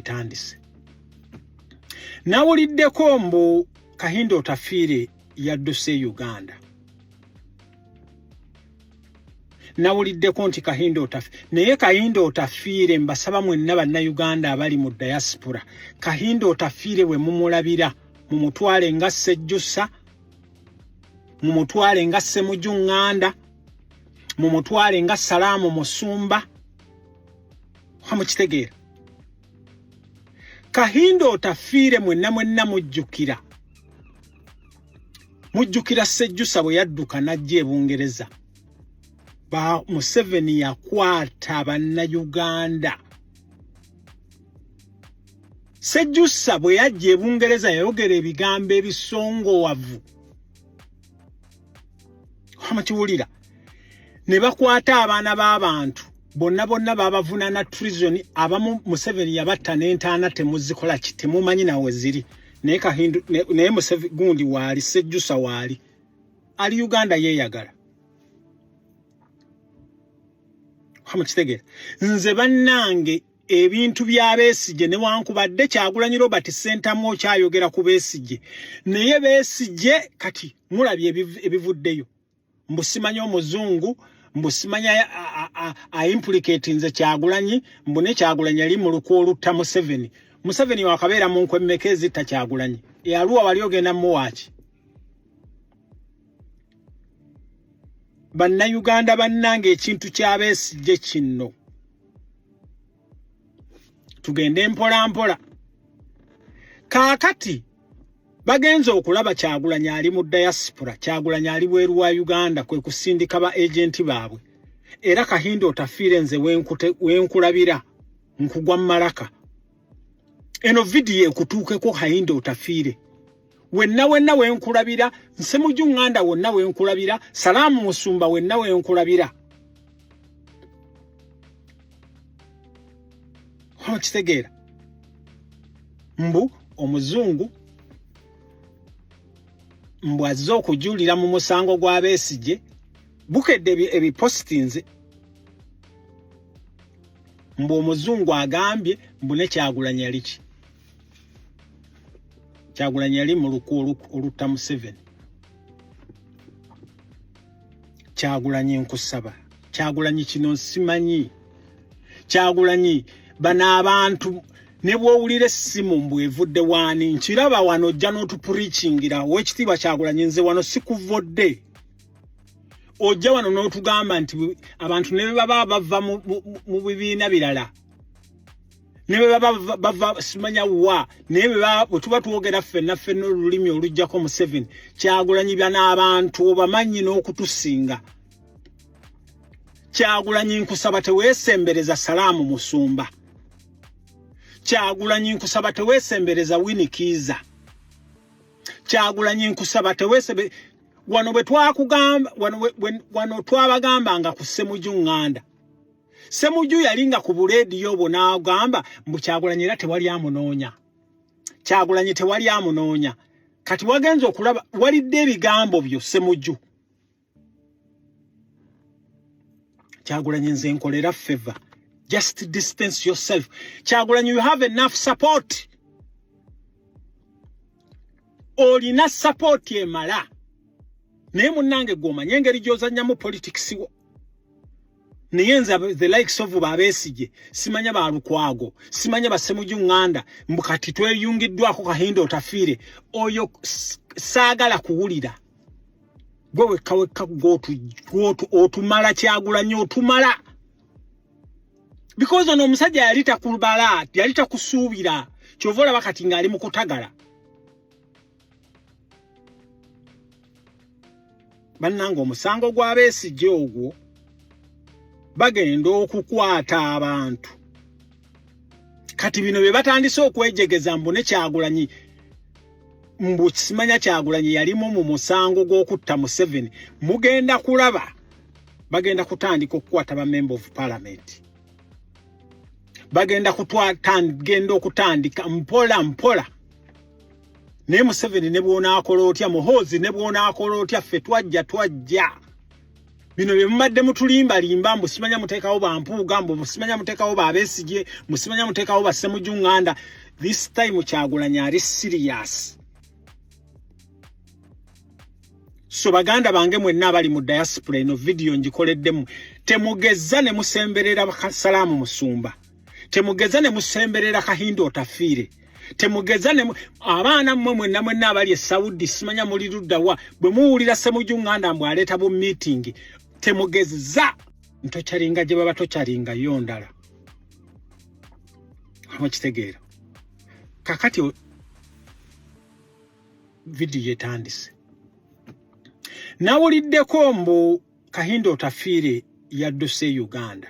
etandise nawuliddeko mbu kahinda otafiire yadduse e uganda nawuliddeko nti kahinda otafi naye kahinda otafiire mbasaba mwenna bannayuganda abali mu diaspora kahinda otafiire bwe mumulabira mumutwale nga sejjusa mumutwale nga semuju ŋŋanda mumutwale nga salaamu musumba hamukitegeera kahinda otafiire mwenna mwenna mujjukira mujjukira sejjusa bwe yadduka n'ajja e bungereza ba museveni yakwata bannayuganda sejjusa bwe yajja e bungereza yayogera ebigambo ebisongowavu amakiwulira ne bakwata abaana b'abantu bonna bonna babavunana treason abamu museveni yabatta n'entaana temuzikola ki temumanyi nawe ziri naye kahindu naye musevi gundi waali sejjusa waali ali uganda yeeyagala hamukitegera nze bannange ebintu bya Besigye newankubadde Kyagulanyi Robert Ssentamu okyayogera ku Besigye naye Besigye kati mulabye ebivuddeyo mbu simanya omuzungu mbu simanya aimplicate nze Kyagulanyi mbu ne Kyagulanyi ali mu lukwo olutta Museveni Museveni wakabeera mu nkwe mmeka ezitta Kyagulanyi eyaluwa wali ogenda muwaaki bannayuganda bannanga ekintu kya Besigye kinno tugende mpola mpola kaakati bagenze okulaba kyagulanyi ali mu diaspora kyagulanyi ali bweru wa uganda kwe kusindika ba agenti baabwe era kahinda otafiire nze wenkulabira nkugwa mu malaka eno vidiyo ekutuukeko hayinda otafiire wenna wenna wenkulabira nsemuju ŋŋanda wonna wenkulabira salaamu musumba wenna wenkulabira okitegeera mbu omuzungu mbu azze okujulira mu musango gwa besigye bukedde ebipositinze mbu omuzungu agambye mbu ne kyagulanyi yali ki kyagulanyi yali mu luku olutta museveni kyagulanyi nkusaba kyagulanyi kino nsimanyi kyagulanyi bano abantu ne bwowulira essimu mbu evudde waani nkiraba wano ojja n'otupurikingira owekitiibwa kyagulanyi nze wano sikuvodde ojja wano n'otugamba nti abantu ne bebaba bava mu bibiina birala ne bebaba bava simanya wa naye bwe tuba twogera ffenna ffenna olulimi olujjako museveni kyagulanyibya n'abantu obamanyi n'okutusinga kyagulanyi nkusaba tewesembereza salaamu musumba kyagulanyi nkusaba tewesembereza winikiiza kyagulanyi nkusaba tewesebe wano bwe twakugamba wano wano twabagamba nga ku semuju nganda semuju yali nga ku buleediyo bwo n'agamba mbu kyagulanyi era tewali amunoonya kyagulanyi tewali amunoonya kati wagenze okulaba walidde ebigambo byo semuju kyagulanyi nze nkolera favor just distance yourself kyagulanyi you have enough support olina support emala naye munange gwomanya engeri gyozanyamu politics wo naye nze the likes of babesije simanya ba lukwago simanya basemuju nganda mbu kati tweyungiddwako kahinda otafiire oyo saagala kuwulira gwe wekka wekka gwotu otumala kyagulanyo otumala because ono omusajja yali takulubala yali takusuubira kyova olaba kati ng'ali mu kutagala bannanga omusango gw'abeesijja ogwo bagenda okukwata abantu kati bino bye batandise okwejegeza mbu ne kyagulanyi mbu kisimanya kyagulanyi yalimu mu musango gw'okutta museveni mugenda kulaba bagenda kutandika okukwata ba member of parliament bagenda kutwatagenda okutandika mpola mpola naye museveni ne bwonaakola otya muhoozi ne bwonaakola otya ffe twajja twajja bino bye mumadde mutulimbalimba mbu simanya muteekawo bampuuga mbu musimanya muteekawo babesigye musimanya muteekawo basemujunganda this time kyagulanya ali siriyasi so baganda bange mwenna abali mu diaspora eno vidiyo ngikoleddemu temugezza ne musemberera salaamu musumba temugezza ne musemberera kahinda otafiire temugeza ne abaana mmwe mwenna mwenna abali e saudi simanya muli luddawa bwe muwulira semuju ŋŋanda mbwe aleeta bu miitingi temugezza ntokyalinga gye baba tokyalinga yo ndala mukitegeera kakati vidiyo etandise nawuliddeko mbu kahinda otafiire yadduse e uganda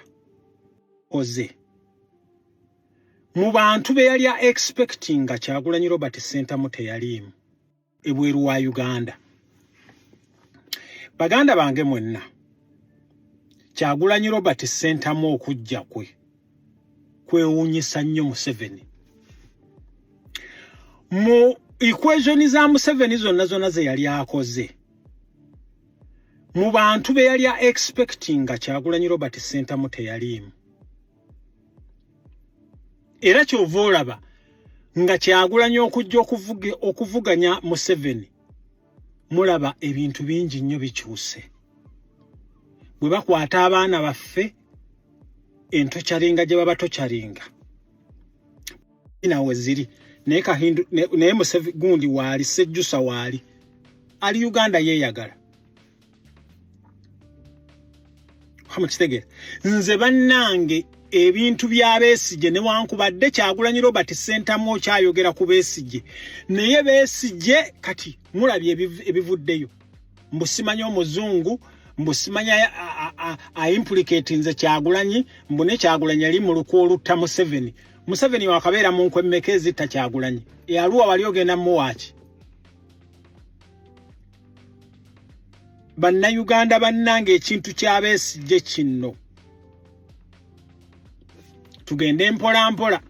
oze mu bantu be yali expecting nga kyagulanyi robert sentamu teyaliimu ebweru wa uganda baganda bange mwenna kyagulanyi robert sentamu okujja kwe kwewuunyisa nnyo museveni mu equation za museveni zonna zonna ze yali akoze mu bantu be yali expecting nga kyagulanyi robert sentamu teyaliimu era kyova olaba nga kyagulanyi okujja okuvuganya museveni mulaba ebintu bingi nnyo bikyuse bwe bakwata abaana baffe entokyalinga gye baba tokyalinga nawe ziri naye kahindu naye musevi gundi waali sejjusa waali ali uganda yeeyagala mukitegere nze bannange ebintu bya besigye newankubadde kyagulanyi robert sentamu okyayogera ku besigye naye besigye kati mulabye ebivuddeyo mbusimanya omuzungu mbusimanya aimplikati nze kyagulanyi mbu ne kyagulanyi ali mu lukwa olutta museveni museveni wakabeera mu nkwemmeka ezitta kyagulanyi eyaluwa wali ogenda muwaaki bannayuganda bannanga ekintu kyabesigye kinno tugende mpolampola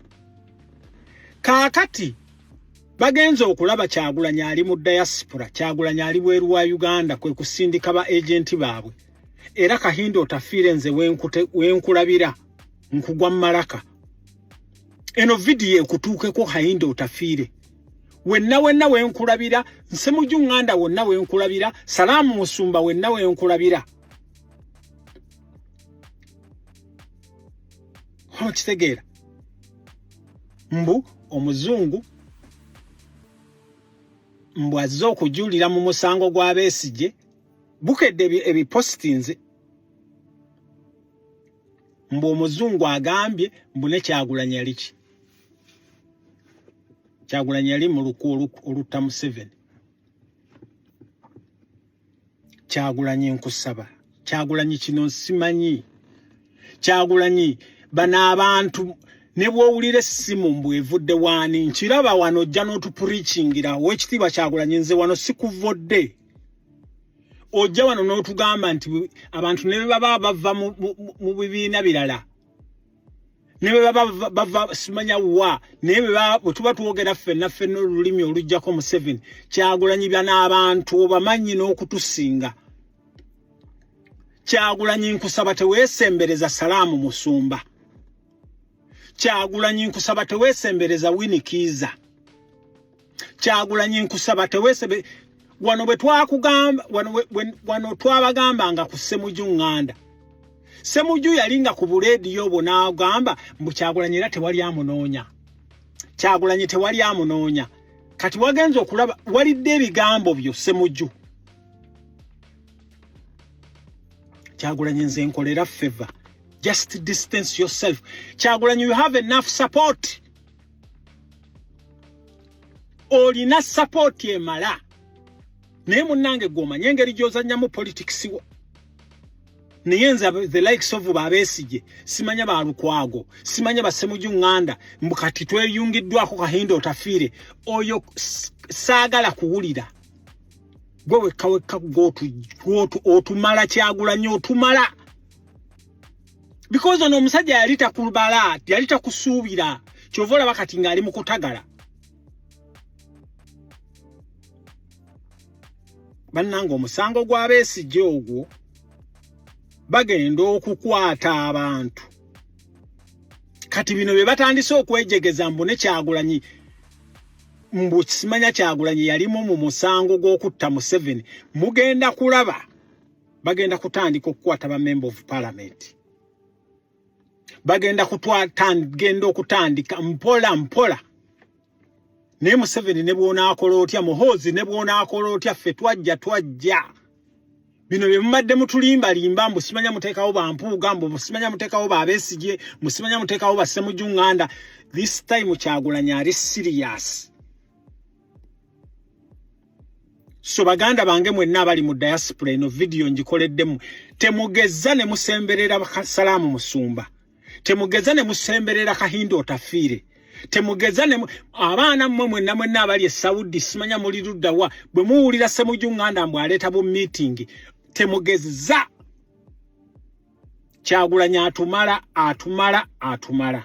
kaakati bagenze okulaba kyagulanya ali mu dayasipura kyagulanya ali bweru wa uganda kwe kusindika ba agenti baabwe era kahinda otafiire nze wenkulabira nkugwa mu malaka eno vidiyo ekutuukeko kahinda otafiire wenna wenna wenkulabira nsemuju nganda wonna wenkulabira salaamu musumba wenna wenkulabira okitegeera mbu omuzungu mbu azze okujulira mu musango gwa besigye bukedde ebipositinze mbu omuzungu agambye mbu nekyagulanya liki kyagulanyi yali mu luku olutta museveni kyagulanyi nkusaba kyagulanyi kino nsimanyi kyagulanyi bano abantu ne bwowulira essimu mbu evudde waani nkiraba wano ojja n'otupurikingira owekitiibwa kyagulanyi nze wano sikuvodde ojja wano n'otugamba nti abantu ne bebaba bava mu bibiina birala ne bwe baba bava simanya wa naye bwe tuba twogera ffenna ffenna olulimi olujjako museveni kyagulanyi bya n'abantu obamanyi n'okutusinga kyagulanyi nkusaba teweesembereza salaamu musumba kyagulanyi nkusaba teweesembereza winikiiza kyagulanyi nkusaba tewesebe wano bwe twakugamba wano, wano twabagambanga ku semuju ŋŋanda semuju yali nga ku buleediyo obwo n'agamba mbu kyagulanyi era tewali amunoonya kyagulanyi tewali amunoonya kati wagenze okulaba walidde ebigambo byo semuju kyagulanyi nze nkolera feva just distance yourself kyagulanyi you have enough support olina sapooti emala naye munnange gwomanye engeri gyozanyamu politics wo naye nze the likes of babesigye simanya balukwago simanya basemuju ŋŋanda mbu kati tweyungiddwako kahinda otafiire oyo saagala kuwulira gwe wekka wekka gwotu otumala kyagulanyo otumala because ono omusajja yali takubala yali takusuubira kyova olaba kati ng'ali mu kutagala bannanga omusango gw'abeesijja ogwo bagenda okukwata abantu kati bino bye batandise okwejegeza mbu ne kyagulanyi mbu kisimanya kyagulanyi yalimu mu musango gw'okutta museveni mugenda kulaba bagenda kutandika okukwata ba member of parliament bagenda kutwatagenda okutandika mpola mpola naye museveni ne bwonaakola otya muhoozi ne bwonaakola otya ffe twajja twajja bino bye mumadde mutulimbalimba mbu simanya muteekawo bampuuga mbu musimanya muteekawo babesigye musimanya muteekawo basemujunganda this time kyagulanyi ali siriyasi so baganda bange mwenna abali mu diaspora eno vidiyo ngikoleddemu temugezza ne musemberera salaamu musumba temugezza ne musemberera kahinda otafiire temugeza ne abaana mmwe mwenna mwenna abali e saudi simanya muli ludda wa bwe muwulira semuju nganda mbwe aleeta bu meeting temugezza kyagulanya atumala atumala atumala